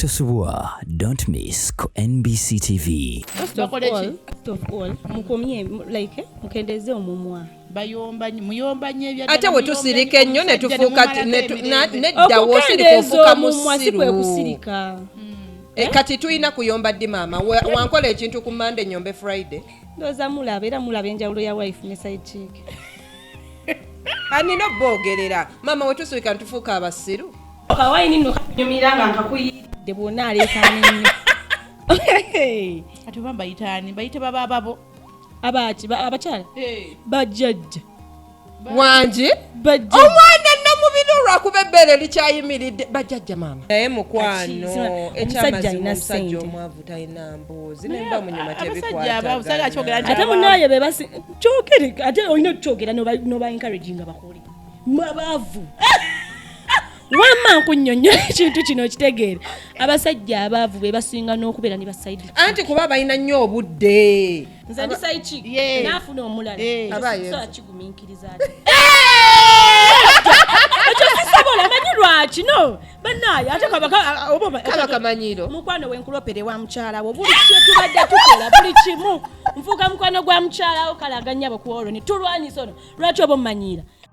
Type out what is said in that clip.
Tosubwa, don't miss ku NBC TV. First of all, first of all, mukomye like eh, mukendeze omumwa. Bayomba muyomba nye bya Ate we tusirike nnyo ne tufuka ne dawo siri kufuka musiru. Mm. E, kati tulina kuyomba ddi maama wankola ekintu ku mande nyombe friday ndoza mulaba era mulaba enjawulo ya wife ne side chick anina obogerera maama wetusirika ntufuuka abasiru Kawayini nno kanyumira nga nkakuyiridde bwonna aleekaana ennyo. Ate oba mbayitaani bayite baba babo. Abaaki abakyala bajjajja wangi bajja omwana nnamubiri olwakuba ebbeere likyayimiridde bajjajja maama naye mukwano omusajja alina sente omwavu talina mboozi naye mba munyuma tebikwatagana ate munaye bebasi kyogere ate olina okukyogera noba encouraging abakole mwabavu wamma nkunyonyola ekintu kino okitegeere abasajja abaavu be basinga n'okubeera ne basaidi anti kuba balina nnyo obudde nze ndi saiki naafuna omulala kigumiikiriza ekyo sisobola manyi lwaki no banaye ate kabakamanyiro mukwano wenkulopere wa mukyalawo buli kyetubadde tukola buli kimu nfuuka mukwano gwa mukyalawo kalaganyabo ku olwo ne tulwanyisa ono lwaki oba omumanyiira